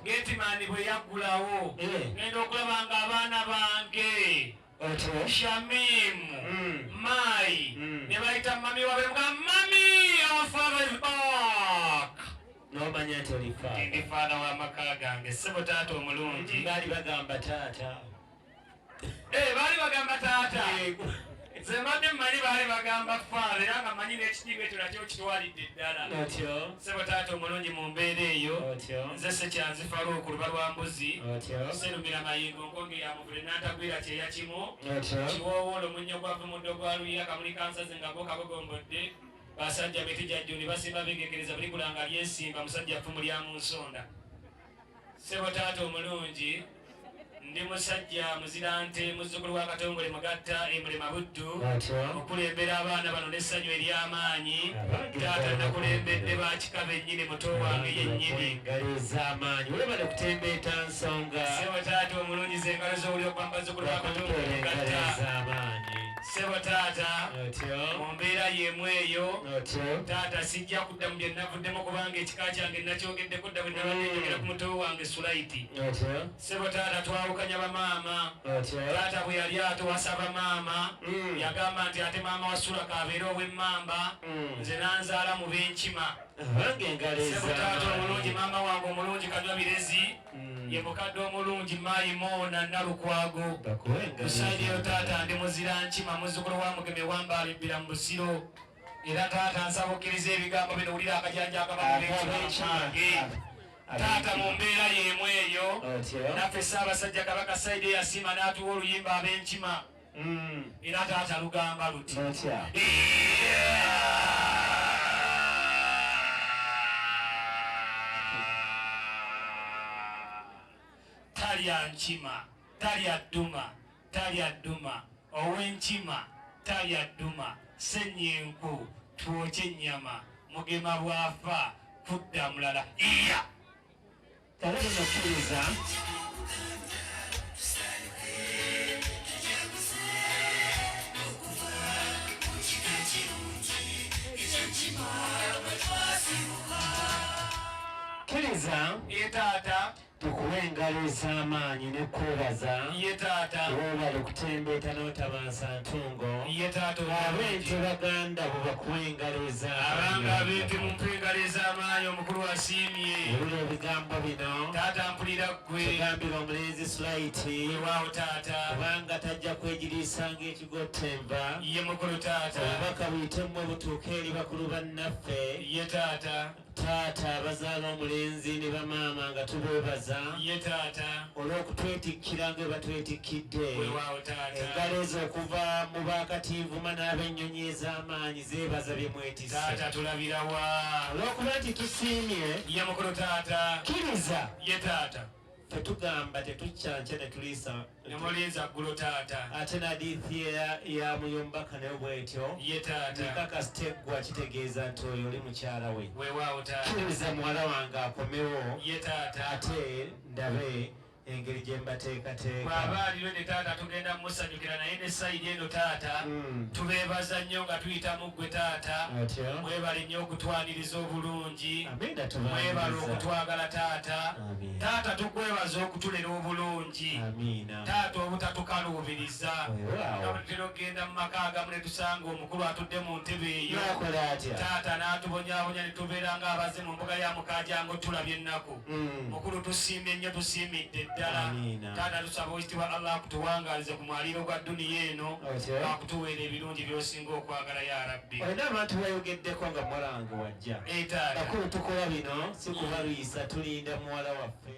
Getimaani bwe yaggulawo eh. ngenda okulaba nga abaana bange Shamimu hmm. Mai hmm. ne bayita mami wabe nga mami our father is back n'omanya nti oli faana w'amaka gange si butaata omulungi baali bagamba taata Eh, baali bagamba taata nze mbadde mmanyi baali bagamba faala era nga manyi n'ekitiibwa ekyo nakyo kitwalidde eddala sebo taata omulungi mu mbeera eyo nze sekyanzi faluuku luba lwa mbuzi serumira mayingo nkonge ya muvule n'antagwira kyeya kimu kiwoowoola omunnyo gwavu muddo gwa luyira kamuli kansazi nga gwo kagogombodde basajja mitijajjuni basimba begekereza buli kulanga lyesimba musajja ffumu lya mu nsonda Sebo taata omulungi ndi musajja muzirante muzzukulu wa katongole mugatta emulema buddu okulembera abaana bano n'essanyu ery'amaanyi taata nakulembedde bakika bennyini muto wange yennyini sebo taata omulungi zengalo z'owuli okuba mubazzukulu wa katongole mugatta sebo taata mu mbeera y'emu eyo taata sijja kudda mu bye navuddemu kubanga ekika kyange nakyogeddeko obudda bwe nabadde mm. njogera ku muto wange sulaiti sebo taata twawukanya bamaama taata bwe yali atowasa bamaama mm. yagamba nti ate maama wasula kabeere ow'emmamba mm. nze nanzaala mu b'enkima sebo taata omulungi maama wange omulungi kanywa birezi ye mukadde omulungi maayi moona nalukwago kusaideyo taata ndi muzira nkima muzukulu wa mugeme wambaalibbira mu busiro Era taata nsaba okkiriza ebigambo bino wulira akajanja akabaekyange taata mu mbeera y'emu eyo naffe ssaabasajja kabaka saidi eyasiima n'atuwa oluyimba ab'enkima mm. era taata lugamba luti talya nkima talya dduma talya dduma, ow'enkima talya dduma, ssennya enku, twokye ennyama, Mugema bw'afa kudda mulala. Iya! Talaba mukkiriza. Kkiriza. Ye taata. Tukuwe engalo ez'amaanyi ne kwebaza. Ye taata. Weebale kutembeeta n'otabansa ntungo. Ye taata omulungi. Abeente baganda bo bakuwe engalo ez'amaanyi. Abange abeente mumpe engalo ez'amaanyi omukulu asiimye. Wulira ebigambo bino. Taata mpulira ggwe. Kigambira omulenzi Sulaiti. Weewaawo taata. Kubanga tajja kwegiriisa ng'ekigotta enva. Ye mukulu taata. Obubaka buyite mmwe butuuke eri bakulu bannaffe. Ye taata. taata abazaala omulenzi ne bamaama nga tubeebaza ye taata olw'okutwetikkira nga batwetikkidde engalo ezo okuva mu bakatinvuma n'abennyonyi ez'amaanyi zeebaza bye mwetise taata tulabirawa olw'okuba nti tusiimye ye mukulu taata kiriza ye taata Ffe tugamba tetuccanca ne tuliisa. Ne mulinza ggulo taata. Ate ne hadiithi ya, ya Muyombaka nayo bw'etyo. Ye taata. Nkakasi teggwa kitegeeza nti oyo oli mukyala we. Weewaawo taata. Kkiriza muwala wange akomewo. Ye taata. Ate ndabe engeri gye mbateekateeka. Bw'aba aliwo ne taata tugenda musanyukira naye ne sayidi eno taata mm. tubeebaza nnyo nga tuyita mu ggwe taata mwebale nnyo okutwaniriza obulungi mwebale okutwagala taata taata tukwebaza okutulera obulungi taata obutatukaluubiriza abutera okugenda mu maka agamu netusanga omukulu atudde mu ntebe eyo taata n'atubonyabonya netubeera nga abaze mu mbuga ya mukajango tulabye ennaku mm. mukulu tusiimye nnyo tusiimidde ddala taata tusaba owekitibwa allah akutuwangalize ku mwaliiro gwa duniya eno akutuweera ebirungi byosinga okwagala ya rabbi Bakulu tukola bino si kubalwisa tulinda muwala waffe.